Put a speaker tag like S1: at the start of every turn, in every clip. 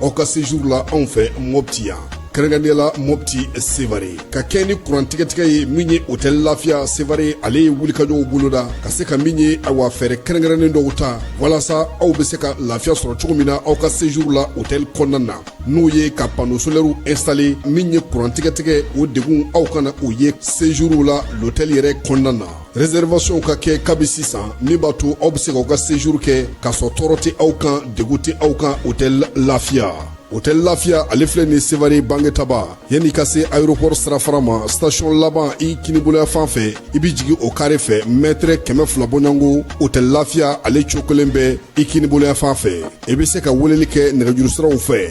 S1: aw ka séjour la anw fɛ mɔpti yan kɛrɛnkɛrɛnnenya la mɔpti sevare ka kɛɲɛ ni kurantigɛtigɛ ye min ye hôtel lafiya sevare ale ye wulikajɔw boloda ka se ka min ye awa fɛɛrɛ kɛrɛnkɛrɛnnen dɔw ta walasa aw be se ka lafiya sɔrɔ cogo min na aw ka séjour la hôtel kɔnɔna na n'o ye ka panneau solairew installer min ye kurantigɛtigɛ o degun aw kana o ye séjour la l'hôtel yɛrɛ kɔnɔna na Réservationw ka kɛ kabi sisan min b'a to aw bɛ se k'aw ka séjour kɛ k'a sɔrɔ tɔɔrɔ tɛ aw kan degun tɛ aw kan hôtel lafiya hôtel lafiya ale filɛ nin sevare bangetaba yann'i ka se aéroport sirafara ma station laban i kininboloyanfan fɛ i bɛ jigin o carré fɛ mɛtre kɛmɛ fila bɔɲɔgɔnko hôtel lafiya ale cokolen bɛ i kininboloyanfan fɛ i bɛ se ka weleli kɛ nɛgɛjurusiraw fɛ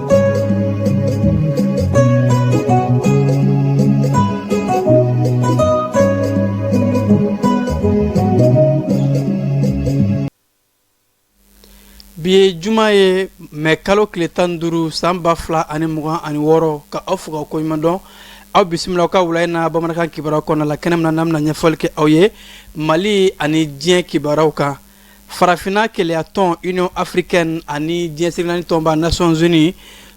S2: bi ye juma ye mɛ kalo kile tan duuru san ba fila ani mugan ani wɔɔrɔ ka aw fo ka koɲuman dɔn aw bisimila aw ka wula in na bamanankan kibaru kɔnɔna la kɛnɛ min na an bɛna ɲɛfɔli kɛ aw ye mali ani diɲɛ kibaruw kan farafinna kelenyatɔn union africaine ani diɲɛ seleke naani tɔnba nations unies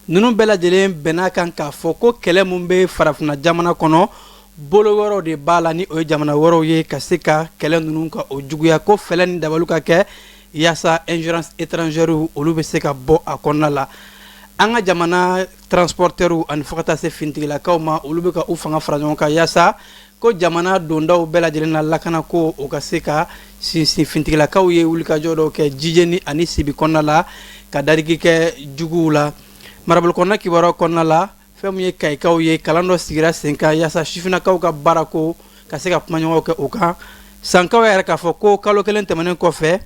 S2: ninnu bɛɛ lajɛlen bɛnn'a kan k'a fɔ ko kɛlɛ min bɛ farafinna jamana kɔnɔ bolo wɛrɛw de b'a la ni o ye jamana wɛrɛw ye ka se ka kɛlɛ ninnu ka o juguya ko fɛɛrɛ ni dabaliw ka kɛ yaasa ingérence étrangèrew olu bɛ se ka bɔ a kɔnɔna la an ka jamana transporteurw ani fo ka taa se fintigilakaw ma olu bɛ ka u fanga fara ɲɔgɔn kan yaasa ko jamana dondaw bɛɛ lajɛlen na lakana ko o ka se ka sinsin fintigilakaw ye wulikajɔ dɔw kɛ jijeni ani sibi kɔnɔna la ka dadigi kɛ juguw la marabolo kɔnɔna kibaruw kɔnɔna la fɛn min ye kayikaw ye kalan dɔ sigira sen kan yaasa sifinnakaw ka baarako ka se ka kumaɲɔgɔnw kɛ o kan sankaw y'a yira k'a fɔ ko kalo kelen tɛmɛnen kɔfɛ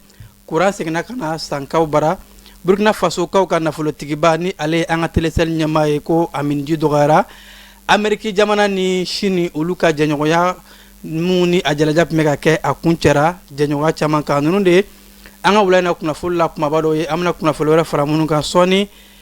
S2: Kuran seginna ka na sankaw bara burukina fasokaw ka nafolotigiba ni ale ye an ka telecel ɲɛmaa ye ko a minji dɔgɔyara ameriki jamana ni sini olu ka jɛɲɔgɔnya min ni a jalaja tun bɛ ka kɛ a kun cɛra jɛɲɔgɔnya caman kan ninnu de ye an ka wula in na kunnafoli la kumaba dɔw ye an bɛna kunnafoli wɛrɛ fara minnu kan sɔɔni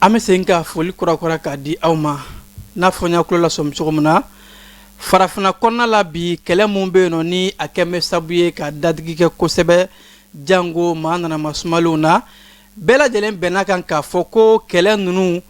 S2: an bɛ segin ka foli kurakura k'a di aw ma n'a fɔ n y'aw kulo lasɔmi cogo min na farafinna kɔnɔna la bi kɛlɛ min bɛ yen nɔ ni a kɛlen bɛ sabu ye ka dadigi kɛ kosɛbɛ jango maa nana masumalenw na bɛɛ lajɛlen bɛnn'a kan k'a fɔ ko kɛlɛ ninnu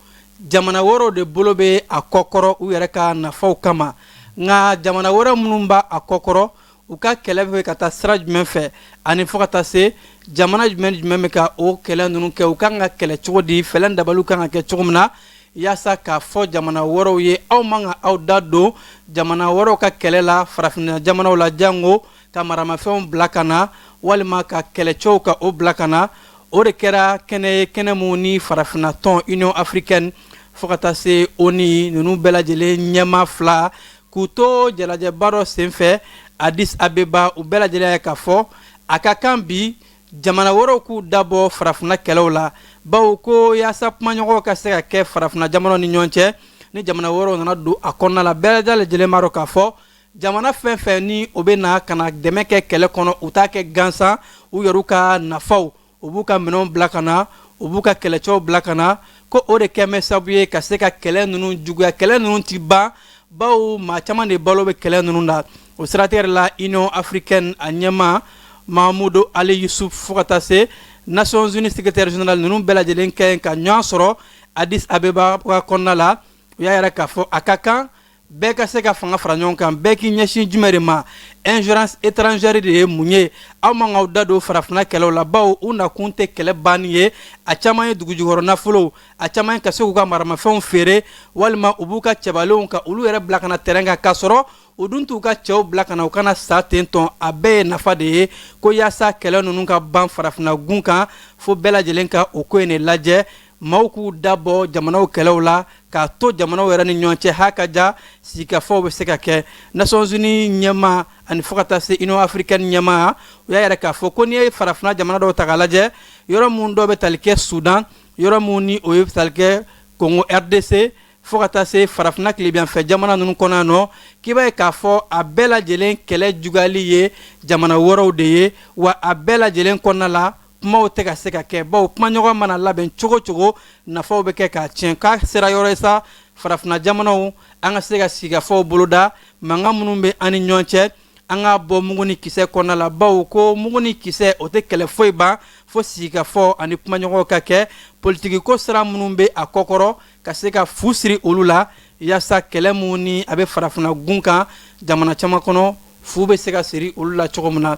S2: jamana wɛrɛw de bolo bɛ a kɔkɔrɔ u yɛrɛ ka nafaw kama nka jamana wɛrɛ minnu b'a kɔkɔrɔ u ka kɛlɛ bɛ ka taa sira jumɛn fɛ ani fo ka taa se jamana jumɛn jumɛn bɛ ka o kɛlɛ ninnu kɛ u kan ka kɛlɛ cogo di fɛɛrɛ dabaliw kan ka kɛ cogo min na yaasa k'a fɔ jamana wɛrɛw ye aw man ka aw da don jamana wɛrɛw ka kɛlɛ la farafinna jamanaw la jango ka maramafɛnw bila ka na walima ka kɛlɛcɛw ka o bila ka na o de kɛra kɛnɛ ye kɛnɛ minnu ni farafinna tɔn union africaine fo ka taa se onu ninnu bɛɛ lajɛlen ɲɛmaa fila k'u to jalajɛba dɔ senfɛ addis abeba u bɛɛ lajɛlen y'a ye k'a fɔ a ka kan bi jamana wɛrɛw k'u dabɔ farafinna kɛlɛw la bawo ko yaasa kumaɲɔgɔn ka se ka kɛ farafinna jamanaw ni ɲɔgɔn cɛ ni jamana wɛrɛw nana don a kɔnɔna la bɛɛ lajɛlen b'a dɔn k'a fɔ jamana fɛn fɛn ni o bɛ na ka na dɛmɛ kɛ kɛlɛ kɔnɔ u t'a kɛ gansan u yɛrɛw ka nafaw u b'u ka minɛnw bila ka na u b'u ka kɛlɛcɛw bila ka na ko o de kɛ bɛ sabu ye ka se ka kɛlɛ ninnu juguya kɛlɛ ninnu tɛ ban bawo maa caman de balo bɛ kɛlɛ ninnu na o siratigɛ la union africaine a ɲɛmaa mahamudu ali yusuf fo ka taa se nations unies secrétaire général ninnu bɛɛ lajɛlen kɛ ka ɲɔgɔn sɔrɔ addis abeba kɔnɔna la u y'a yira k'a fɔ a ka kan bɛɛ ka se ka fanga fara ɲɔgɔn kan bɛɛ k'i ɲɛsin jumɛn de ma ingérence étrangère de ye mun ye aw man k'aw da don farafina kɛlɛw la bawo u nakun tɛ kɛlɛ banni ye a caman ye dugujukɔrɔ nafolow a caman ye ka se k'u ka maramafɛnw feere walima u b'u ka cɛbalenw ka olu yɛrɛ bila ka na terrain kan k'a sɔrɔ u dun t'u ka cɛw bila ka na u ka na sa ten tɔn a bɛɛ ye nafa de ye ko yaasa kɛlɛ ninnu ka ban farafina gun kan fo bɛɛ lajɛlen ka o ko in de lajɛ maaw k'u da bɔ jamanaw kɛlɛw la k'a to jamanaw yɛrɛ ni ɲɔgɔn cɛ ha ka ja sigikafɔw bɛ se ka kɛ nations unies ɲɛmaa ani fo ka taa se union africaine ɲɛmaa u y'a yira k'a fɔ ko n'i ye farafina jamana dɔw ta k'a lajɛ yɔrɔ minnu dɔw bɛ tali kɛ sudan yɔrɔ minnu ni o ye tali kɛ kongo rdc fo ka taa se farafina tilebinyanfɛ jamana ninnu kɔnɔna nɔ k'i b'a ye k'a fɔ a bɛɛ lajɛlen kɛlɛ juguyali ye jamana wɛrɛw de ye wa a bɛɛ lajɛlen kɔnɔna la kumaw tɛ ka se ka kɛ bawo kumaɲɔgɔn mana labɛn cogo cogo nafaw bɛ kɛ k'a tiɲɛ k'a sera yɔrɔ ye sa farafinna jamanaw an ka se ka sigikafɔw boloda mankan minnu bɛ an ni ɲɔgɔn cɛ an ka bɔ mugu ni kisɛ kɔnɔna la bawo ko mugu ni kisɛ o tɛ kɛlɛ foyi ban fo sigikafɔ ani kumaɲɔgɔn ka kɛ politikiko sira minnu bɛ a kɔkɔrɔ ka se ka fu siri olu la yaasa kɛlɛ minnu ni a bɛ farafina gun kan jamana caman kɔnɔ fu bɛ se ka siri olu la cogo min na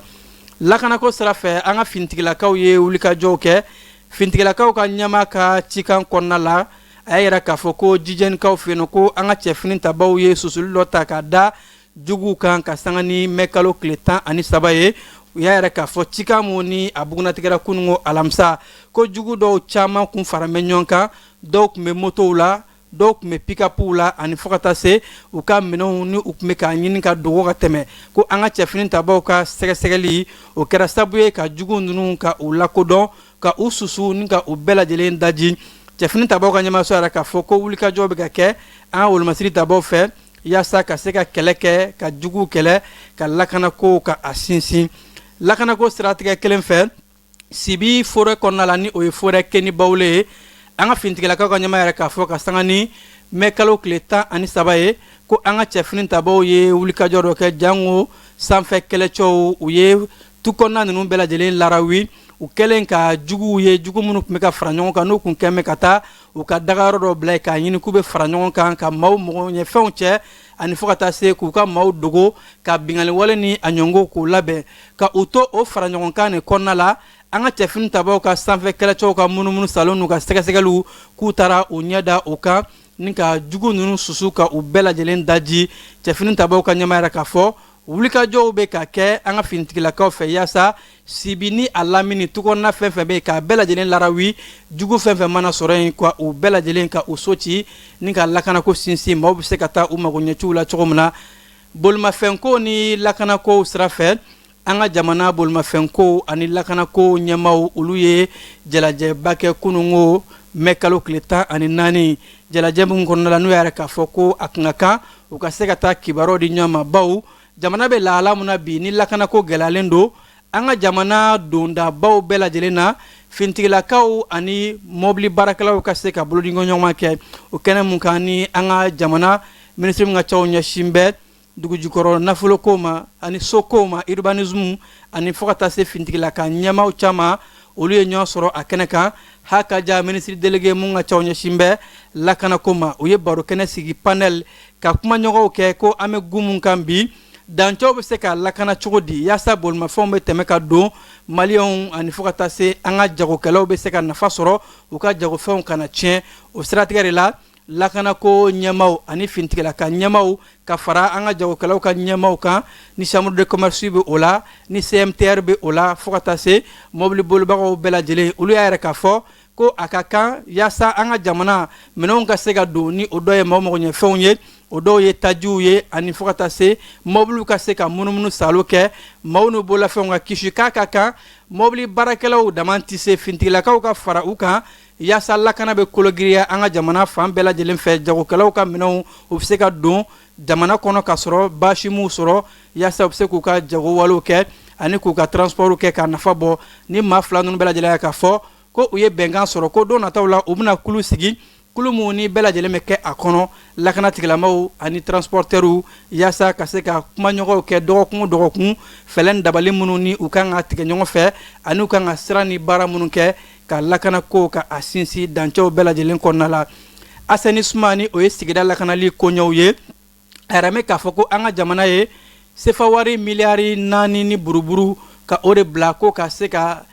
S2: lakanako sira fɛ an ka finitigilakaw ye wulikajɔw kɛ finitigilakaw ka ɲɛmaa ka cikan kɔnɔna la a y'a yira k'a fɔ ko jijɛnikaw fɛ yen ko an ka cɛ finitabaw ye susuli dɔ ta ka da juguw kan ka sanga ni mɛkalo tile tan ani saba ye u y'a yira k'a fɔ cikan minnu ni a bugunnatigɛra kununko alamisa ko jugu dɔw caman kun fara bɛ ɲɔgɔn kan dɔw tun bɛ motow la dɔw tun bɛ pikapuw la ani fo ka taa se u ka minɛnw ni u tun bɛ k'a ɲini ka dogo ka tɛmɛ ko an ka cɛfini tabaaw ka sɛgɛsɛgɛli o kɛra sababu ye ka jugu ninnu ka u lakodɔn ka u susu ni ka u bɛɛ lajɛlen daji cɛfini tabaaw ka ɲɛmaaso y'a yira k'a fɔ ko wulikajɔ bɛ ka kɛ an ka wolomasiri tabaaw fɛ yaasa ka se ka kɛlɛ kɛ ka jugu kɛlɛ ka lakanako ka a sinsin lakanako siratigɛ kelen fɛ sibi forɛ kɔnɔna la ni o ye forɛ kɛnibawule ye an ka finitigilakaw ka ɲɛmaaw y'a yira k'a fɔ ka sanga ni mɛ kalo tile tan ani saba ye ko an ka cɛfini tabaw ye wulikajɔ dɔ kɛ jango sanfɛ kɛlɛcɛw u ye tu kɔnɔna ninnu bɛɛ lajɛlen larawi u kɛlen ka juguw ye jugu minnu tun bɛ ka fara ɲɔgɔn kan n'u tun kɛlen bɛ ka taa u ka dagayɔrɔ dɔ bila yen k'a ɲini k'u bɛ fara ɲɔgɔn kan ka maaw magoɲɛfɛnw cɛ ani fo ka taa se k'u ka maaw dogo ka binganiwale ni a ɲɔngo k'u labɛn ka u to o faraɲɔgɔnkan nin kɔnɔna la an ka cɛfini tabaaw ka sanfɛ kɛlɛcɛw ka munumunu salo n'u ka sɛgɛsɛgɛliw k'u taara u ɲɛ da o kan ni ka jugu ninnu susu ka u bɛɛ lajɛlen daji cɛfini tabaaw ka ɲɛmaaw y'a yira k'a fɔ wulikajɔw bɛ ka kɛ an ka finitigilakaw fɛ yaasa sibi ni a lamini tukɔnɔna fɛn fɛn bɛ yen k'a bɛɛ lajɛlen larawi jugu fɛn fɛn mana sɔrɔ yen ka u bɛɛ lajɛlen ka u so ci ni ka lakanako sinsin maaw bɛ se ka taa u magoɲɛciw la cogo min na bolimafɛnko ni lakanakow sira fɛ an ka jamana bolimafɛnko ani lakanako ɲɛmaaw olu ye jalajɛba kɛ kunungo mɛ kalo tile tan ani naani jalajɛ min kɔnɔna la n'u y'a yira k'a fɔ ko a tun ka kan u ka se ka taa kibaruyaw di ɲɔgɔn ma baw jamana bɛ lahala min na bi ni lakanako gɛlɛyalen don an ka jamana dondabaw bɛɛ lajɛlen na fintigilakaw ani mɔbili baarakɛlaw ka se ka bolodiɲɔgɔnma kɛ o kɛnɛ min kan ni an ka jamana minisiri min ka cɛw ɲɛsin bɛ dugujukɔrɔ nafoloko ma ani sokow ma urbanisme ani fo ka taa se fintigilaka ɲɛmaaw caman olu ye ɲɔgɔn sɔrɔ a kɛnɛ kan hakaja minisiri delege mun ka caw ɲɛsin bɛ lakanako ma u ye barokɛnɛ sigi panɛl ka kumaɲɔgɔnw kɛ ko an bɛ gun mun kan bi dancɛw bɛ se ka lakana cogo di yaasa bolimafɛnw bɛ tɛmɛ ka don maliyɛnw ani fo ka taa se an ka jagokɛlaw bɛ se ka nafa sɔrɔ u ka jagofɛnw kana tiɲɛ o siratigɛ de la lakanako ɲɛmaaw ani finitigilaka ɲɛmaaw ka fara an ka jagokɛlaw ka ɲɛmaaw kan ni chambre de commerce bɛ o la ni CMTR bɛ o la fo ka taa se mɔbili bolibagaw bɛɛ lajɛlen olu y'a yira k'a fɔ ko a ka kan yaasa an ka jamana minɛnw ka se ka don ni o dɔ ye maaw magoɲɛfɛnw ye o dɔw ye tajiw ye ani fo ka taa se mɔbiliw ka se ka munumunu salo kɛ maaw n'u bololafɛnw ka kisi k'a ka kan mɔbili baarakɛlaw dama tɛ se finitigilakaw ka fara u kan Yaasa lakana bɛ kologiriya an ka jamana fan bɛɛ lajɛlen fɛ jagokɛlaw ka minɛnw u bɛ se ka don jamana kɔnɔ ka sɔrɔ baasi m'u sɔrɔ yaasa u bɛ se k'u ka jagowalew kɛ ani k'u ka transportw kɛ ka nafa bɔ ni maa fila ninnu bɛɛ lajɛlen k'a fɔ ko u ye bɛnkan sɔrɔ ko don nataw la u bɛna kulu sigi kulu min ni bɛɛ lajɛlen bɛ kɛ a kɔnɔ lakana tigilamaw ani transporteurw yaasa ka se ka kumaɲɔgɔnw kɛ dɔgɔkun o dɔgɔkun fɛlɛ ni dabali minnu ni u kan ka tigɛ ɲɔgɔn fɛ ani u kan ka sira ni baara minnu kɛ ka lakana ko ka a sinsin dancɛw bɛɛ lajɛlen kɔnɔna la assainissement ni o ye sigida lakanali koɲɛw ye a yɛrɛ mɛ k'a fɔ ko an ka jamana ye sefawari miliyari naani ni buruburu ka o de bila ko ka se ka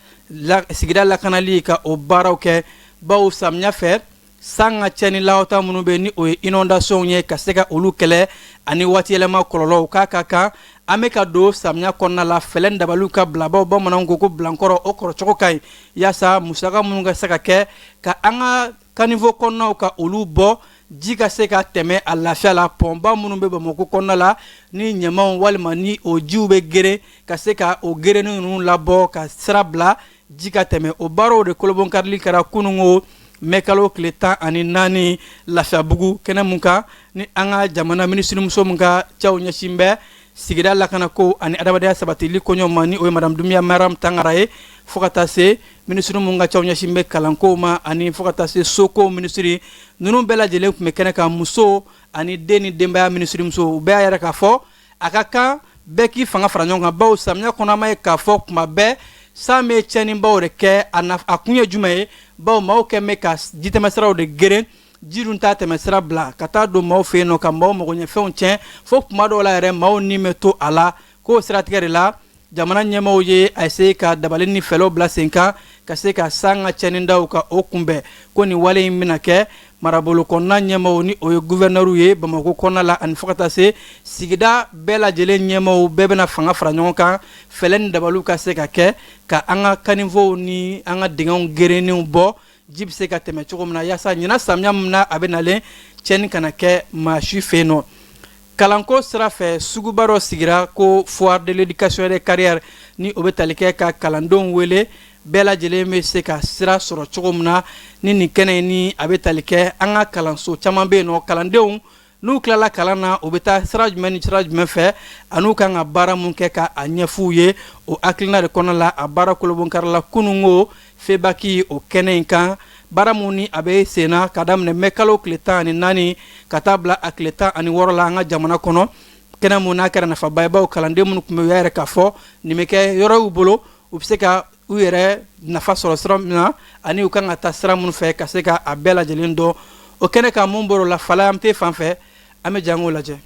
S2: sigida lakanali ka o baaraw kɛ bawo samiya fɛ San ka cɛnni lahata minnu bɛ ni o ye inondation ye ka se ka olu kɛlɛ ani waati yɛlɛma kɔlɔlɔw k'a ka kan an bɛ ka don samiya kɔnɔna la fɛlɛ ni dabaliw ka bila bawo bamananw ko ko bilankɔrɔ o kɔrɔcogo ka ɲi yaasa musaka minnu ka se ka kɛ ka an ka kanivo kɔnɔnaw ka olu bɔ ji ka se ka tɛmɛ a lafiya la pɔnba minnu bɛ bamakɔ kɔnɔna la ni ɲamaw walima ni o jiw bɛ geren ka se ka o gerenni ninnu labɔ ka sira bila ji ka tɛmɛ o baaraw de kolobonkarili kɛra kunungo mɛ kalo tile tan ani naani lafiyabugu kɛnɛ min kan ni an ka jamana minisirimuso min ka cɛw ɲɛsin bɛ sigida lakana ko ani adamadenya sabatili koɲɛw ma ni o ye madame Dumbiya Mariam Tangara ye fo ka taa se minisiri min ka cɛw ɲɛsin bɛ kalanko ma ani fo ka taa se soko minisiri ninnu bɛɛ lajɛlen tun bɛ kɛnɛ kan muso ani den ni denbaya minisirimuso u bɛɛ y'a yira k'a fɔ a ka kan bɛɛ k'i fanga fara ɲɔgɔn kan bawo samiya kɔnɔ an b'a ye k'a fɔ kuma bɛɛ san bɛ cɛnnibaw de kɛ a kun ye jumɛn ye bawo maaw kɛ bɛ ka jitɛmɛsiraw de geren ji dun t'a tɛmɛsira bila ka taa don maaw fɛ yen nɔ ka maaw magoɲɛfɛnw cɛn fo kuma dɔw la yɛrɛ maaw ni bɛ to a la k'o siratigɛ de la jamana ɲɛmaaw ye a se ka dabali ni fɛlɛw bila sen kan ka se ka san ka cɛnnidaw ka o kunbɛn ko nin wale in bɛna kɛ marabolo kɔnɔna ɲɛmaaw ni o ye guvɛrɛnɛriw ye bamakɔ kɔnɔna la ani fo ka taa se sigida bɛɛ lajɛlen ɲɛmaaw bɛɛ bɛna fanga fara ɲɔgɔn kan fɛlɛ ni dabaliw ka se ka kɛ ka an ka kanivow ni an ka dingɛw gerennenw bɔ ji bɛ se ka tɛmɛ cogo min na yaasa ɲinan samiya min na a bɛ nalen cɛnni kana kɛ maa si fɛ yen nɔ Kalanko sira fɛ suguba dɔ sigira ko foire de l'éducation et des carrières ni o bɛ tali kɛ ka kalandenw wele bɛɛ lajɛlen bɛ se ka sira sɔrɔ cogo min na ni nin kɛnɛ ni a bɛ tali kɛ an ka kalanso caman bɛ yen nɔ kalandenw n'u tilala kalan na u bɛ taa sira jumɛn ni sira jumɛn fɛ ani u kan ka baara min kɛ ka a ɲɛfɔ u ye o hakilina de kɔnɔ la a baara kolobonkarila kunungo Febaki o kɛnɛ in kan baara min ni a bɛ sen na ka daminɛ mɛ kalo tile tan ani naani ka taa bila a tile tan ani wɔɔrɔ la an ka jamana kɔnɔ kɛnɛ min n'a kɛra nafaba ye bawo kalanden minnu tun bɛ u y'a yira k'a fɔ nin bɛ kɛ yɔrɔ y'u bolo u bɛ se ka u yɛrɛ nafa sɔrɔ sira min na ani u kan ka taa sira minnu fɛ ka se ka a bɛɛ lajɛlen dɔn o kɛnɛ kan mun bɔr'o la fala an tɛ fan fɛ an bɛ jan o lajɛ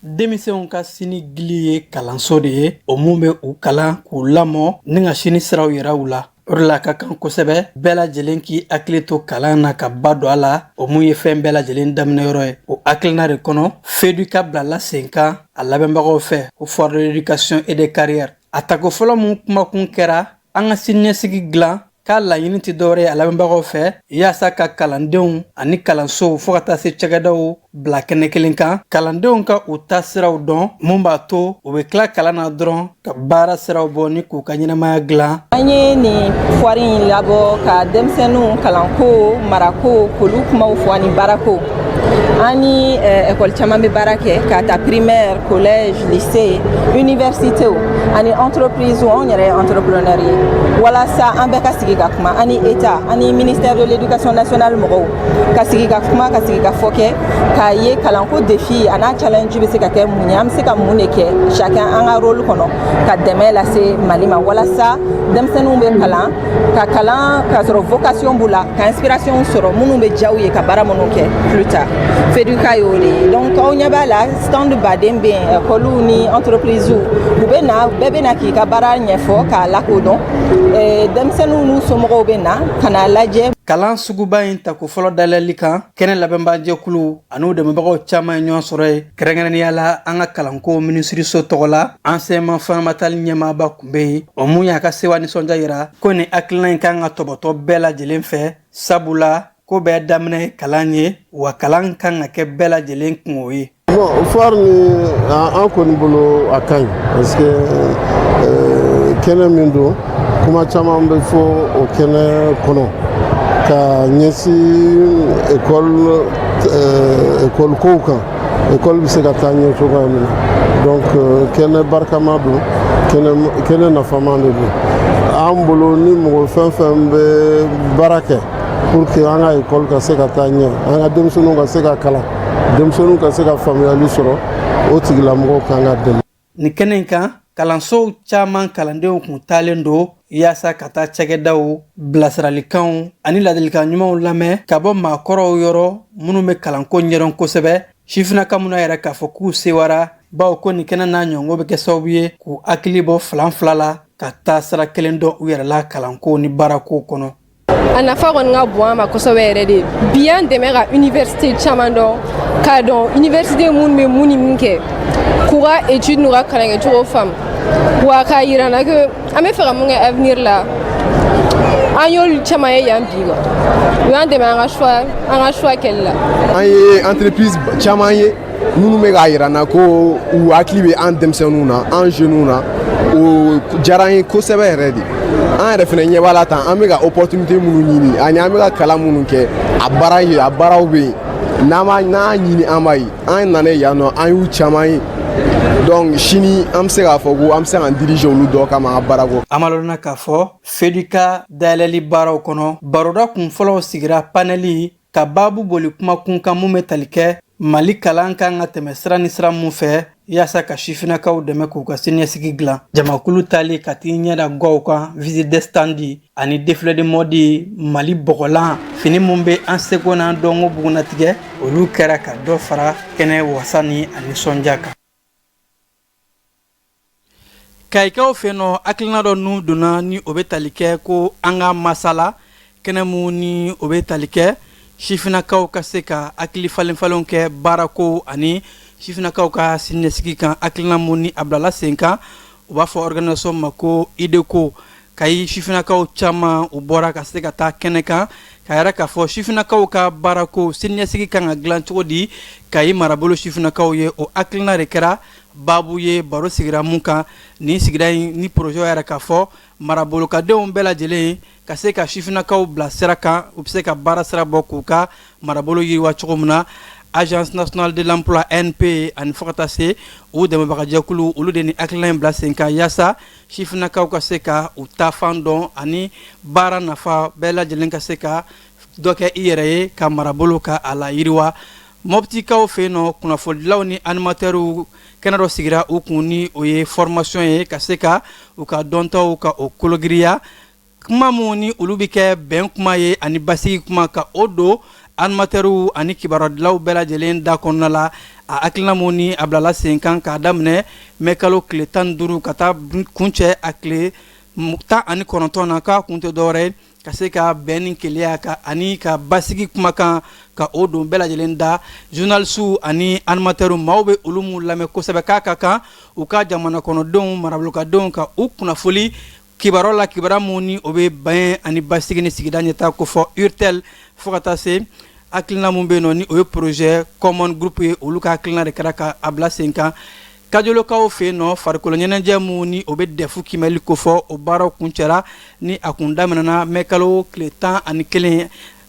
S2: denmisɛnw ka sini gili ye kalanso de ye o mun bɛ u kalan k'u lamɔ ni ka sini siraw yira u la o de la ka kan kosɛbɛ bɛɛ lajɛlen k'i hakili to kalan na ka ba don a la o mun ye fɛn bɛɛ lajɛlen daminɛyɔrɔ ye o hakilina de kɔnɔ feduka bilala sen kan a labɛnbagaw fɛ ko foire de l'éducation et des carrières a tako fɔlɔ min kumakun kɛra an ka siniɲɛsigi dilan k'a laɲini tɛ dɔwɛrɛ ye a labɛnbagaw fɛ yaasa ka kalandenw ani kalansow fo ka taa se cakɛdaw bila kɛnɛ kelen kan kalandenw ka u taasiraw dɔn mun b'a to u bɛ tila kalan na dɔrɔn ka baara siraw bɔ ni k'u ka ɲɛnamaya dilan an ye
S3: nin foire in labɔ ka denmisɛnninw kalanko marako k'olu kumaw fɔ ani baarako an ni ekɔli caman bɛ baara kɛ k'a ta primaire collège lycée universitéw ani entreprisew anw yɛrɛ ye entrepreneur ye walasa an bɛɛ ka sigi ka kuma an ni état an ni ministère de l'éducation nationale mɔgɔw ka sigi ka kuma ka sigikafɔ kɛ k'a ye kalanko défi an'a challenge bɛ se ka kɛ mun ye an bɛ se ka mun de kɛ chacun an ka rôle kɔnɔ ka dɛmɛ lase Mali ma walasa denmisɛnninw bɛ kalan ka kalan k'a sɔrɔ vocation b'u la ka inspiration sɔrɔ minnu bɛ diya u ye ka baara minnu kɛ plus tard feduka y'o de ye donc aw ɲɛ b'a la stand baden bɛ yen ekɔliw ni entreprise u bɛ na bɛɛ bɛ na k'i ka baara ɲɛfɔ k'a lakodɔn denmisɛnninw n'u somɔgɔw bɛ na ka n'a lajɛ kalan suguba
S2: in tako fɔlɔ dayɛlɛli kan kɛnɛ labɛnbajɛkulu an'u dɛmɛbagaw caman ye ɲɔgɔn sɔrɔ yen kɛrɛnkɛrɛnnenya la an ka kalanko minisiriso tɔgɔ la enseignement fondamental ɲɛmaaba kun bɛ yen o mun y'a ka sewa nisɔndiya yira ko nin hakilina in kan ka tɔbɔtɔ bɛɛ lajɛlen fɛ sabula ko bɛɛ daminɛ ye kalan ye wa kalan kan ka kɛ bɛɛ lajɛlen kunko ye bon foire
S4: nin an kɔni bolo a ka ɲi parce que euh, kɛnɛ min don kuma caman bɛ fɔ o kɛnɛ kɔnɔ ka ɲɛsin ekɔli ekɔli euh, kow kan école bɛ se ka taa ɲɛ cogoya min na donc euh, kɛnɛ barikama don kɛnɛ nafama de don an bolo ni mɔgɔ fɛn fɛn bɛ baara kɛ pour que an ka école ka se ka taa ɲɛ an ka denmisɛnninw ka se ka kalan denmisɛnninw ka se ka faamuyali sɔrɔ o tigilamɔgɔw kan ka dɛmɛ nin kɛnɛ in
S2: kan kalansow caman kalandenw kun taalen don yaasa ka taa cɛkɛdaw bilasiralikanw ani ladilikan ɲumanw lamɛn ka bɔ maakɔrɔw yɔrɔ minnu bɛ kalanko ɲɛdɔn kosɛbɛ sifinaka minnu y'a yira k'a fɔ k'u sewara bawo ko nin kɛnɛ n'a ɲɔgɔn bɛ kɛ sababu ye k'u hakili bɔ filanfila la ka taa sira kelen dɔn u yɛrɛ la kalanko ni baarako kɔnɔ a nafa
S5: kɔni ka bon an ma kosɛbɛ yɛrɛ de bi an dɛmɛ ka université caman dɔn k'a dɔn université minnu bɛ mun ni mun kɛ k'u ka étude n'u ka kalan kɛcogo faamu wa k'a yira an na que an bɛ fɛ ka mun kɛ avenir la an y'olu caman ye yan bi wa u y'an dɛmɛ an ka choix kɛli la an ye entreprise
S6: caman ye minnu bɛ k'a yira an na ko u hakili bɛ an denmisɛnninw na an jeunes na o diyara an ye kosɛbɛ yɛrɛ de an yɛrɛ fana ɲɛ b'a la tan an bɛ ka opportunité minnu ɲini ani an bɛ ka kalan minnu kɛ a baara ye a baaraw bɛ yen n'an b'a ɲini an b'a ye an nana yan nɔ an y'u caman ye donc sini an bɛ se k'a fɔ ko an bɛ se k'an diriger olu dɔ kama an ka baarako an b'a lɔn k'a fɔ
S2: FEDUCA dayɛlɛli baaraw kɔnɔ baroda kun fɔlɔw sigira panɛli ka baabu boli kumakun kan mun bɛ tali kɛ mali kalan kan ka tɛmɛ sira ni sira mun fɛ yaasa ka sifinakaw dɛmɛ k'u ka siniɲɛsigi dilan jamakulu tali ka t'i ɲɛda gaw kan visite de stand ani défilé de mode mali bɔgɔlan fini min bɛ an seko n'an dɔnko bugunnatigɛ olu kɛra ka dɔ fara kɛnɛ wasa ni a nisɔndiya kan Kayikaw fɛ yen nɔ hakilina dɔ ninnu donna ni o bɛ tali kɛ ko an ka masala kɛnɛ min ni o bɛ tali kɛ sifinakaw ka se ka hakili falenfalen kɛ baarako ani sifinakaw ka siniɲɛsigi kan hakilina min ni a bilala sen kan u b'a fɔ organisation ma ko IDECO kayi sifinakaw caman u bɔra ka se ka taa kɛnɛ kan k'a yira k'a fɔ sifinakaw ka baarako siniɲɛsigi ka kan ka dilan cogo di kayi marabolo sifinakaw ye o hakilina de kɛra baabu ye baro sigira min kan nin sigida in ni projet yɛrɛ k'a fɔ marabolokadenw bɛɛ lajɛlen ka se ka sifinakaw bila sira kan u bɛ se ka baara sira bɔ k'u ka marabolo yiriwa cogo min na agence nationale de l'emploi ANPE ani fo ka taa se u dɛmɛbagajɛkulu olu de ni hakilina in bila sen kan yaasa sifinakaw ka se ka u taafan dɔn ani baara nafa bɛɛ lajɛlen ka se ka dɔ kɛ i yɛrɛ ye ka marabolo ka a layiriwa mɔptikaw fɛ yen nɔ kunnafonidilaw ni animatɛriw kɛnɛ dɔ sigira u kun ni o ye fɔrɔmasiyɔn ye ka se ka u ka dɔntaw ka o kologirinya kuma minnu ni olu bɛ kɛ bɛn kuma ye ani basigi kuma ka o don animatɛriw ani kibarudilaw bɛɛ lajɛlen da kɔnɔna la a hakilina min ni a bilala sen kan k'a daminɛ mɛ kalo tile tan ni duuru ka taa kuncɛ a tile tan ani kɔnɔntɔn na k'a kun tɛ dɔwɛrɛ ka se ka bɛn ni kelenya kan ani ka basigi kumakan ka o don bɛɛ lajɛlen da zurunalisiw ani animatɛri maaw bɛ olu minnu lamɛn kosɛbɛ k'a ka kan u ka jamana kɔnɔdenw marabolokadenw ka u kunnafoni kibaruya la kibaruya minnu ni o bɛ bɛn ani basigi ni sigida ɲɛtaa kofɔ URTEL fo ka taa se hakilina minnu bɛ yen nɔ ni o ye projet common group ye olu ka hakilina de kɛra ka a bila sen kan kajolokaw fɛ yen nɔ farikolo ɲɛnajɛ minnu ni o bɛ dɛfu kimɛli kofɔ o baaraw kuncɛra ni a kun daminɛna mɛ kalo tile tan ani kelen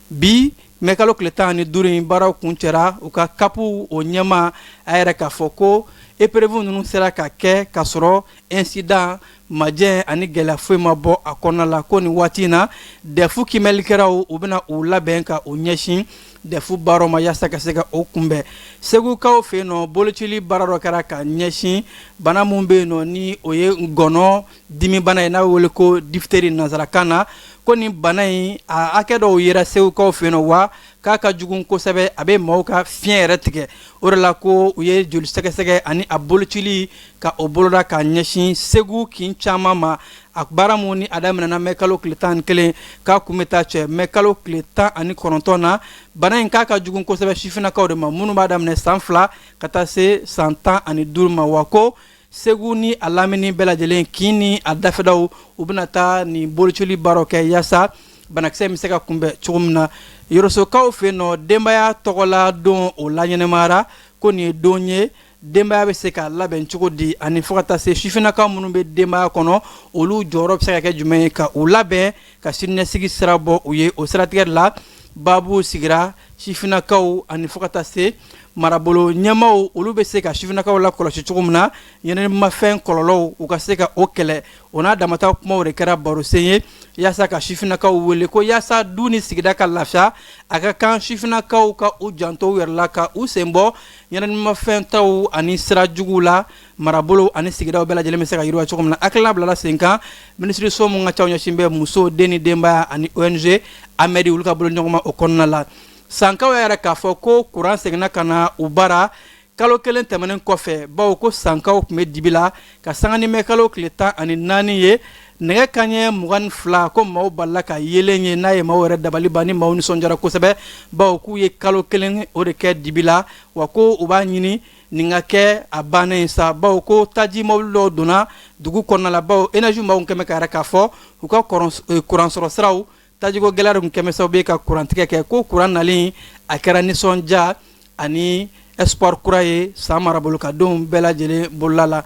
S2: bi mɛ kalo tile tan ani duuru in baaraw kuncɛra u ka kapu o ɲɛmaa yɛrɛ k'a fɔ ko épreuve ninnu sera ka kɛ ka sɔrɔ incident majeur ani gɛlɛya foyi ma bɔ a kɔnɔna la ko nin waati in na dɛfu kimɛlikɛlaw u bɛna u labɛn ka u ɲɛsin dɛfu baaraw ma yaasa ka se ka o kunbɛn segukaw fɛ yen nɔ bolocili baara dɔ kɛra ka ɲɛsin bana minnu bɛ yen nɔ ni o ye ngɔnɔ dimibana ye n'a wele ko difiteri nansarakan na ko nin bana in a hakɛ dɔw yera segukaw fɛ yen nɔ wa k'a ka jugu kosɛbɛ a bɛ maaw ka fiɲɛ yɛrɛ tigɛ o de la ko u ye joli sɛgɛsɛgɛ ani a bolocili ka o boloda ka ɲɛsin segu kin caman ma a baara minnu ni a daminɛna mɛ kalo tile tan ni kelen k'a kun bɛ taa cɛ mɛ kalo tile tan ani kɔnɔntɔn na bana in k'a ka jugu kosɛbɛ sifinnakaw de ma minnu b'a daminɛ san fila ka taa se san tan ani duuru ma wa ko segu ni a lamini bɛɛ lajɛlen kin ni a dafɛdaw u bɛna taa nin bolocili baaraw kɛ yaasa banakisɛ bɛ se ka kunbɛn cogo min na yɔrɔsokaw fɛ yen nɔ denbaya tɔgɔla don o laɲɛnamayara ko nin ye don ye denbaya bɛ se ka labɛn cogo di ani fo ka taa se sifinnakaw minnu bɛ denbaya kɔnɔ olu jɔyɔrɔ bɛ se ka kɛ jumɛn ye ka u labɛn ka siniɲɛsigi sira bɔ u ye o siratigɛ de la baabu sigira sifinnakaw ani fo ka taa se marabolo ɲɛmaaw olu bɛ se ka sifinnakaw lakɔlɔsi cogo min na ɲɛnaminifɛn kɔlɔlɔw u ka se ka o kɛlɛ o n'a damata kumaw de kɛra barosen ye yaasa ka sifinnakaw wele ko yaasa du ni sigida ka lafiya a ka kan sifinnakaw ka u janto u yɛrɛ la ka u sen bɔ ɲɛnaminifɛn ta ani sira juguw la marabolo ani sigidaw bɛɛ lajɛlen bɛ se ka yiriwa cogo min na a hakilina bilala sen kan minisiriso min ka ciw ɲɛsin bɛ muso den ni denbaya ani ONG AMEDD olu ka bolo ɲɔgɔnma o kɔnɔna la Sankaw y'a jira k'a fɔ ko kuran seginna ka na u bara kalo kelen tɛmɛnen kɔfɛ bawo ko sankaw tun bɛ dibi la ka sanga ni mɛ kalo tile tan ani naani ye nɛgɛ kanɲɛ mugan ni fila ko maaw balala ka yeelen ye n'a ye maaw yɛrɛ dabali ban ni maaw nisɔndiyara kosɛbɛ bawo k'u ye kalo kelen o de kɛ dibi la wa ko u b'a ɲini nin ka kɛ a bannen ye sa bawo ko taji mobili dɔw donna dugu kɔnɔna la bawo énergie maaw kɛlen bɛ k'a jira k'a fɔ u ka kuransɔrɔ siraw Tajiko gɛlɛya de kɛlen bɛ sababu ye ka kurantigɛ kɛ ko kuran nalen a kɛra nisɔndiya ani espoir kura ye San marabolo ka denw bɛɛ lajɛlen bolola la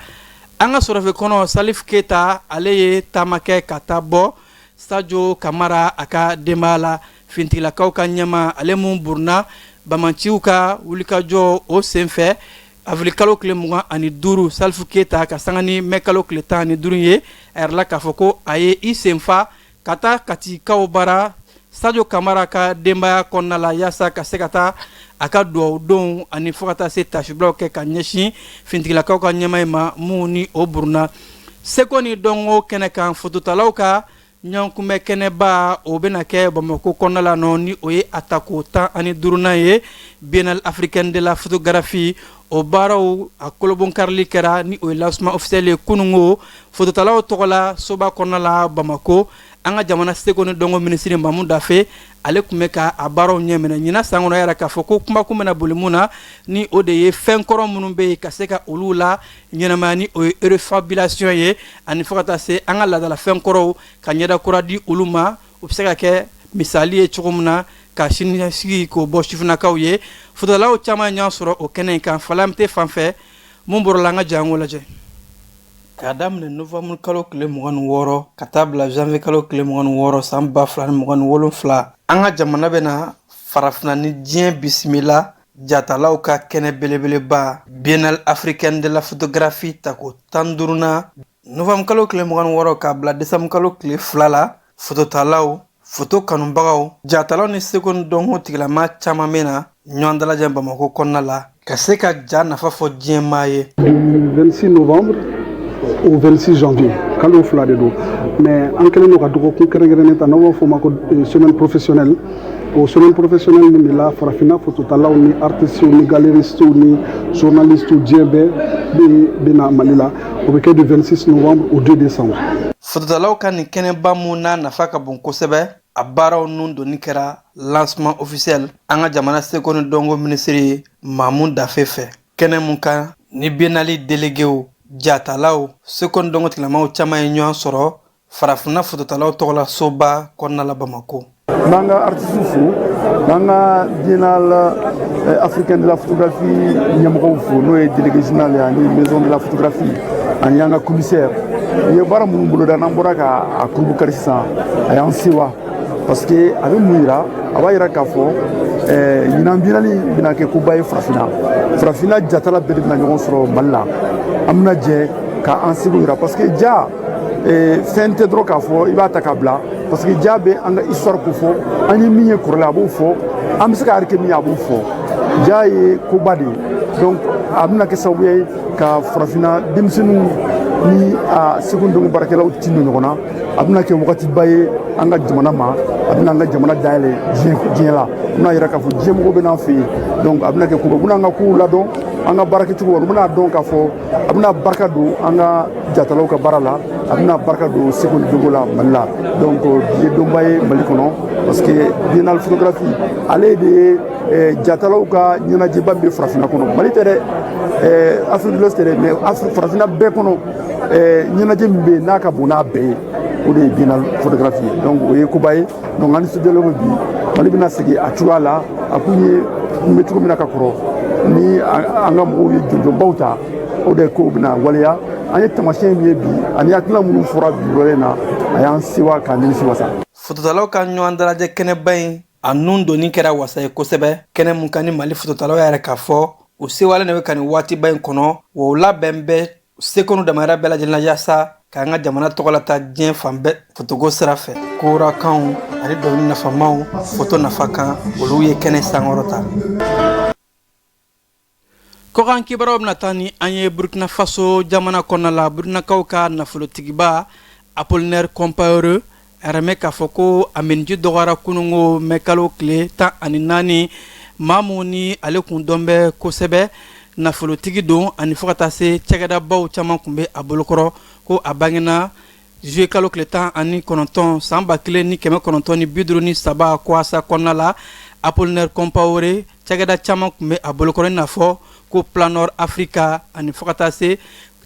S2: an ka sɔrɔfɛ kɔnɔ Salif Keyita ale ye taama kɛ ka taa bɔ Sajo Kamara a ka denbaya la finitigilakaw ka ɲɛmaa ale min burunna banbaanciw ka wulikajɔ o senfɛ avril kalo tile mugan ani duuru Salif Keyita ka sanga ni mɛ kalo tile tan ni duuru ye a jirala k'a fɔ ko a ye i senfa ka taa katikaw bara Sajo Kamara ka denbaya kɔnɔna la yaasa ka se ka taa a ka dugawudonw ani fo ka taa se taasibilaw kɛ ka ɲɛsin finitigilakaw ka ɲɛmaa in ma min ni o burunna seko ni dɔnko kɛnɛ kan fototalaw ka ɲɔgɔnkunbɛn kɛnɛba o bɛna kɛ bamakɔ kɔnɔna la nɔ ni o ye a tako tan ani duurunan ye Biennale africaine de la photographie o baaraw a kolobonkarili kɛra ni o ye lancement officiel ye kununko fototalaw tɔgɔla soba kɔnɔna la bamakɔ an ka jamana seko ni dɔnko minisiri Mamu Dafe ale tun bɛ ka a baaraw ɲɛminɛ ɲinan san kɔnɔ y'a jira k'a fɔ ko kumakun bɛna boli mun na ni o de ye fɛn kɔrɔ minnu bɛ yen ka se ka olu laɲɛnamaya ni o ye refabulation ye ani fo ka taa se an ka laadala fɛn kɔrɔw ka ɲɛda kura di olu ma U bɛ se ka kɛ misali ye cogo min na ka sinisigi k'o bɔ sifinnakaw ye fototalaw caman ye ɲɔgɔn sɔrɔ o kɛnɛ in kan falalanmete fan fɛ minnu bɔra la an ka jɛn k'o lajɛ k'a daminɛ novembre kalo tile mugan ni wɔɔrɔ ka taa bila janvier kalo tile mugan ni wɔɔrɔ san ba fila ni mugan ni wolonwula an ka jamana bɛna farafinna ni diɲɛ bisimila jatalaw ka kɛnɛ belebeleba Biennale africaine de la photographie tako tan ni duurunan Novembre kalo tile mugan ni wɔɔrɔ k'a bila décembre kalo tile fila la fototalaw foto kanubagaw jatalaw ni seko ni dɔnko tigilama caman bɛna ɲɔgɔn dalajɛ bamakɔ kɔnɔna la ka se ka ja nafa fɔ diɲɛmaa ye du 26
S7: novembre au 26 janvier kalo fila de don mais an kɛlen don ka dɔgɔkun kɛrɛnkɛrɛnnen ta n'an b'a fɔ ma ko euh, semaine professionnelle o semaine professionnelle nin de la farafinna fototalaw ni artistiw ni galeristiw ni journalistiw diɲɛ bɛɛ bɛ na Mali la O bɛ kɛ du 26 novembre au 2 décembre fototalaw
S2: ka nin kɛnɛba mun n'a nafa ka bon kosɛbɛ a baaraw nun donni kɛra lancement officiel an ka jamana seko ni dɔnko minisiri ye Mamu Dafe fɛ kɛnɛ mun kan ni biennale delegew jatalaw seko ni dɔnko tigilamaw caman ye ɲɔan sɔrɔ Farafinna fototalaw tɔgɔla soba kɔnɔna la Bamakɔ. N'an ka
S7: artisiw fo n'an ka biennale eh, africaine de la photographie ɲɛmɔgɔw fo n'o ye délégué général ye ani maison de la photographie ani an ka commissaire u ye baara minnu boloda n'an bɔra ka a kurubukari sisan a y'an sewa parce que a bɛ mun yira a b'a yira k'a fɔ eh, ɲinan biennale bɛna kɛ koba ye farafinna farafinna jatala bɛɛ de bɛna ɲɔgɔn sɔrɔ mali la an bɛna jɛ ka an seko yira parce que ja ee, fɛn tɛ dɔrɔn k'a fɔ i b'a ta k'a bila parce que ja bɛ an ka histoire ko fɔ an ye min ye kɔrɔlen a b'o fɔ an bɛ se ka arike min ye a b'o fɔ ja ye koba de ye donc a bɛna kɛ sababu ye ka farafinna denmisɛnninw ni a seko ni dɔnko baarakɛlaw tindon ɲɔgɔn na a bɛna kɛ wagatiba ye an ka jamana ma a bɛna an ka jamana dayɛlɛ diɲɛ la a bɛna yira k'a fɔ diɲɛmɔgɔw bɛ n'an fɛ yen donc a bɛna kɛ koba u bɛna an ka kow ladɔn an ka baarakɛcogo u bɛna dɔn k'a fɔ a bɛna barika don an ka jatalaw ka baara la a bɛna barika don seko ni dɔnko la mali la donc bi ye donba ye mali kɔnɔ parce que biennale photographie ale de ye eh, jatalaw ka ɲɛnajɛba min bɛ farafinna kɔnɔ mali tɛ dɛ eh, afrique de l'ouest tɛ dɛ mais Afri- farafinna bɛɛ kɔnɔ eh, ɲɛnajɛ min bɛ yen n'a ka bon n'a bɛɛ ye o de ye biennale photographie ye donc o ye koba ye donc an nisɔndiyalen bɛ bi mali bɛna segin a cogoya la a kun ye kun bɛ cogo min na ka kɔrɔ ni an ka mɔgɔw ye jɔnjɔnbaw ta o de kow bɛna waleya an ye tamasiyɛn min ye bi ani hakilina minnu fɔra bi yɔrɔ in na a y'an sewa k'an nimisiwasa fototalaw ka
S2: ɲɔgɔn dalajɛ kɛnɛba in a nun donni kɛra wasa ye kosɛbɛ kɛnɛ mun kan ni mali fototalaw y'a yira k'a fɔ u sewalen de bɛ ka nin waatiba in kɔnɔ wa u labɛnnen bɛ seko ni damayira bɛɛ lajɛlen na yaasa k'an ka jamana tɔgɔ lataa diɲɛ fan bɛɛ fotoko sira fɛ korakanw ani dɔnkili nafamaw foto nafa kan olu ye kɛnɛ sankɔrɔta kɔkan kibaruyaw bɛna taa ni an ye burkina faso jamana kɔnɔna la burukinakaw ka nafolotigiba Apollinaire Compaoré An y'a mɛn k'a fɔ ko a miniji dɔgɔyara kunungo mɛ kalo tile tan ani naani maa min ni ale tun dɔn bɛ kosɛbɛ nafolotigi don ani fo ka taa se cɛkɛdabaw caman tun bɛ a bolokɔrɔ ko a bangena zuye kalo tile tan ani kɔnɔntɔn san ba kelen ni kɛmɛ kɔnɔntɔn ni bi duuru ni saba Koassa kɔnɔna la Apollinaire Compaoré cɛkɛda caman tun bɛ a bolokɔrɔ i n'a fɔ ko Planor Africa ani fo ka taa se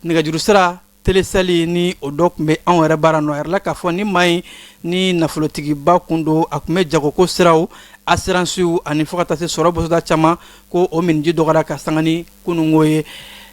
S2: nɛgɛjuru sira Telecel ni o dɔ tun bɛ anw yɛrɛ bara nɔ a yirala k'a fɔ ni maa in ni nafolotigiba tun don a tun bɛ jagoko siraw asiransiw ani fo ka taa se sɔrɔ bosoda caman ko o miniji dɔgɔyara ka sanga ni kunungo ye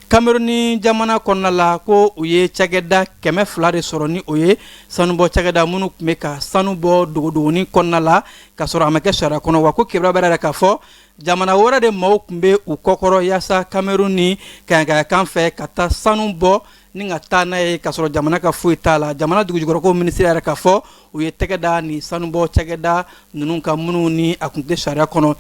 S2: Kameruni jamana kɔnɔna la ko u ye cɛkɛda kɛmɛ fila de sɔrɔ ni o ye sanubɔ cɛkɛda minnu tun bɛ ka sanu bɔ dogodogonin kɔnɔna la ka sɔrɔ a ma kɛ sariya kɔnɔ wa ko kibaruya b'a yira k'a fɔ jamana wɛrɛ de maaw tun bɛ u kɔkɔrɔ yaasa kamerun ni kayakayakan fɛ ka taa sanu bɔ ni ka taa n'a ye ka sɔrɔ jamana ka foyi t'a la jamana dugujukɔrɔko minisiri y'a yira k'a fɔ u ye tɛgɛ da ni sanubɔ cɛkɛda ninnu kan minnu ni a tun tɛ sariya kɔnɔ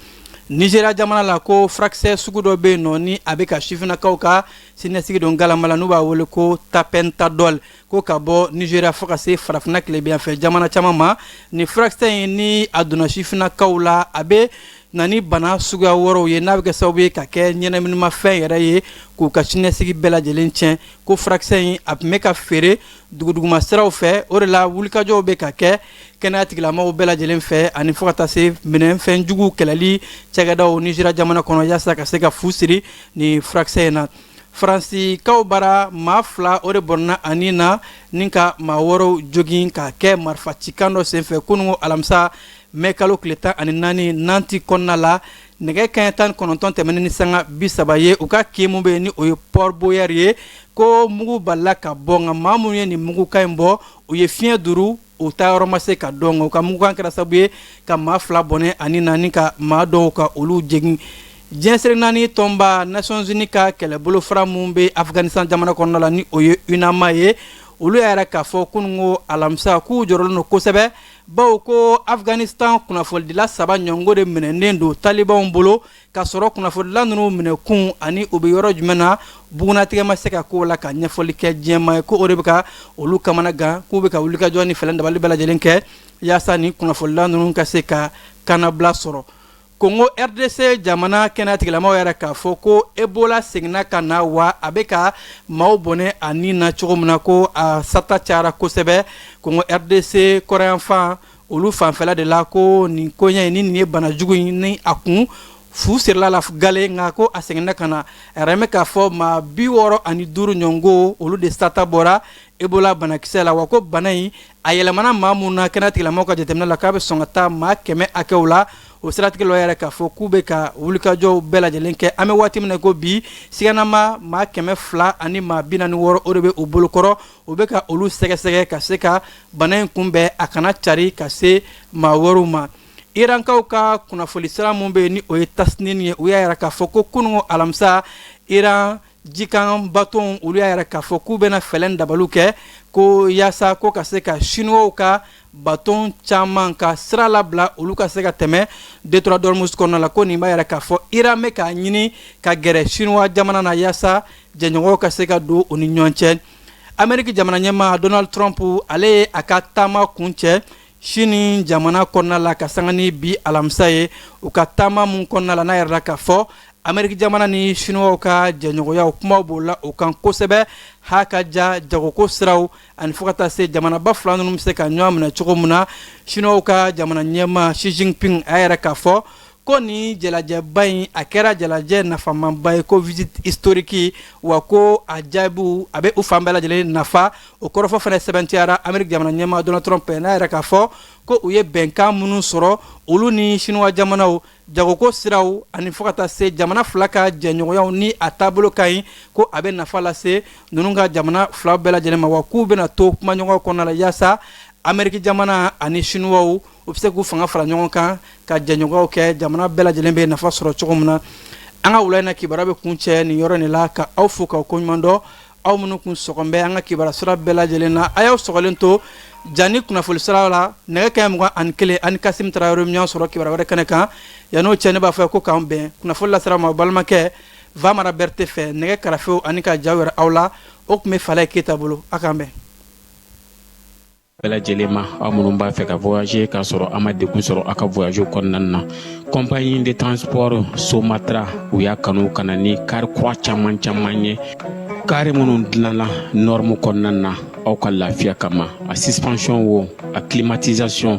S2: nizeriya jamana la ko furakisɛ sugu dɔ bɛ yen nɔ ni a bɛ ka sifinnakaw ka siniɲɛsigi don galama la n'u b'a wele ko tapentadol ko ka bɔ nizeriya fo ka se farafina tilebinyanfɛ jamana caman ma nin furakisɛ in ni a donna sifinnakaw la a bɛ na ni bana suguya wɛrɛw ye n'a bɛ kɛ sababu ye ka kɛ ɲɛnaminimafɛn yɛrɛ ye k'u ka siniɲɛsigi bɛɛ lajɛlen tiɲɛ ko furakisɛ in a tun bɛ ka feere duguduguma siraw fɛ o de la wulikajɔw bɛ ka kɛ kɛnɛya tigilamɔgɔw bɛɛ lajɛlen fɛ ani fo ka taa se minfɛn juguw kɛlɛli cɛkɛdaw nizeriya jamana kɔnɔ yaasa ka se ka fu siri nin furakisɛ in na Faransikaw bara maa fila o de bɔnɛna a ni na ni ka maa wɛrɛw jogin ka kɛ marifacikan dɔ senfɛ kunungo alamisa mɛ kalo tile tan ani naani nantes kɔnɔna la nɛgɛ kanɲɛ tan kɔnɔntɔn tɛmɛnen ni sanga bi saba ye u ka kin min bɛ yen ni o ye port boyer ye ko mugu balila ka bɔ nka ma minnu ye nin mugukan in bɔ u ye fiɲɛ duuru u taa yɔrɔ ma se ka dɔn u ka mugukan kɛra sabu ye ka maa fila bɔnɛ a ni na ni ka maa dɔw ka olu jogin diɲɛ seleke naani tɔnba nations-unies ka kɛlɛbolo fara min bɛ afghanistan jamana kɔnɔna la ni o ye unama ye olu y'a yira k'a fɔ kunungo alamisa k'u jɔrɔlen don kosɛbɛ bawo ko afghanistan kunnafonidila saba ɲɔgɔn de minɛnen don talibanw bolo ka sɔrɔ kunnafonidila ninnu minɛkun ani u bɛ yɔrɔ jumɛn na bugunnatigɛ ma se ka k'o la ka ɲɛfɔli kɛ diɲɛmaa ye ko o de bɛ ka olu kamana gan k'u bɛ ka wulikajɔ ni fɛɛrɛ dabali bɛɛ lajɛlen kɛ yaasa nin kunnafonidila ninnu ka se ka kannabila sɔrɔ kongo rdc jamana kɛnɛya tigilamɔgɔw y'a yira k'a fɔ ko ebola seginna ka na wa a bɛ ka maaw bɔnɛ a ni na cogo min na ko a sata cayara kosɛbɛ kongo rdc kɔrɔnyanfan olu fanfɛla de la ko nin koɲɛ in ni nin ye bana jugu in ni a kun fu sirila la gale nka ko a seginna ka na a yiralen bɛ k'a fɔ maa bi wɔɔrɔ ani duuru ɲɔgɔn olu de sata bɔra ebola banakisɛ la wa ko bana in a yɛlɛmana maa min na kɛnɛya tigilamaw ka jateminɛ la k'a bɛ sɔn ka taa maa kɛmɛ hakɛw la o siratigɛ la u y'a yira k'a fɔ k'u bɛ ka wulikajɔw bɛɛ lajɛlen kɛ an bɛ waati min na ko bi siganama maa kɛmɛ fila ani maa bi naani ni wɔɔrɔ o de bɛ u bolokɔrɔ u bɛ ka olu sɛgɛsɛgɛ ka se ka bana in kunbɛn a kana cari ka se maa wɛrɛw ma irankaw ka kunnafoni sira min bɛ yen ni o ye tasnim ye u y'a yira k'a fɔ ko kunungo alamisa iran jikan baton olu y'a yira k'a fɔ k'u bɛna fɛɛrɛ dabaliw kɛ ko yaasa ko ka se ka siniwaw ka baton caman ka sira labila olu ka se ka tɛmɛ détroit d'ormuz kɔnɔna la ko nin b'a yira k'a fɔ iran bɛ k'a ɲini ka gɛrɛ siniwa jamana na yaasa jɛɲɔgɔnyaw ka se ka don u ni ɲɔgɔn cɛ ameriki jamana ɲɛmaa donald trump ale ye a ka taama kuncɛ sini jamana kɔnɔna la ka sanga ni bi alamisa ye u ka taama min kɔnɔna la n'a yirala k'a fɔ ameriki jamana ni siniwaw ka jɛɲɔgɔnyaw kumaw bolila o kan kosɛbɛ ha ka ja jagoko siraw ani fo ka taa se jamanaba fila ninnu bɛ se ka ɲɔgɔn minɛ cogo min na siniwaw ka jamana ɲɛmaa xi jinping a y'a yira k'a fɔ Ko nin jalajɛba in a kɛra jalajɛ nafamaba ye ko visite historique wa ko a jaabiw a bɛ u fan bɛɛ lajɛlen nafa o kɔrɔfɔ fana sɛbɛntiyara ameriki jamana ɲɛmaa donald trump n'a y'a yira k'a fɔ ko u ye bɛnkan minnu sɔrɔ olu ni siniwa jamanaw jagoko siraw ani fo ka taa se jamana fila ka jɛɲɔgɔnyaw ni a taabolo ka ɲi ko a bɛ nafa lase ninnu ka jamana fila bɛɛ lajɛlen ma wa k'u bɛna to kumaɲɔgɔn kɔnɔna la yaasa ameriki jamana ani siniwaw u bɛ se k'u fanga fara ɲɔgɔn kan ka jɛɲɔgɔnyaw kɛ jamana bɛɛ lajɛlen bɛ nafa sɔrɔ cogo min na an ka wula in na kibaruya bɛ kuncɛ nin yɔrɔ in la ka aw fo k'aw koɲumandɔn aw minnu kun sɔgɔlen bɛ an ka kibaruya sira bɛɛ lajɛlen na a y'aw sɔgɔlen to ja ni kunnafoni sira la nɛgɛ kanɲɛ mugan ani kelen a ni Kassim Tarawele bɛ ɲɔgɔn sɔrɔ kibaruya wɛrɛ kɛnɛ kan yan'o cɛ ne b'a fɔ ko k'an bɛn kunnafoni lasera a ma balimakɛ Famara Berete fɛ nɛgɛ karafew ani ka jaw yira aw la o tun bɛ Falaye Keyita bolo a k'an bɛn bɛɛ
S8: lajɛlen ma aw minnu b'a fɛ ka voyager k'a sɔrɔ a ma degun sɔrɔ a ka voyage kɔnɔna na compagnie de transport somatra u y'a kanu ka na ni kari kura caman caman ye kari minnu dilanna norme kɔnɔna na aw ka lafiya kama a suspension wo a climatisation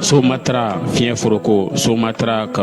S8: Somatra fiɲɛ foroko somatra ka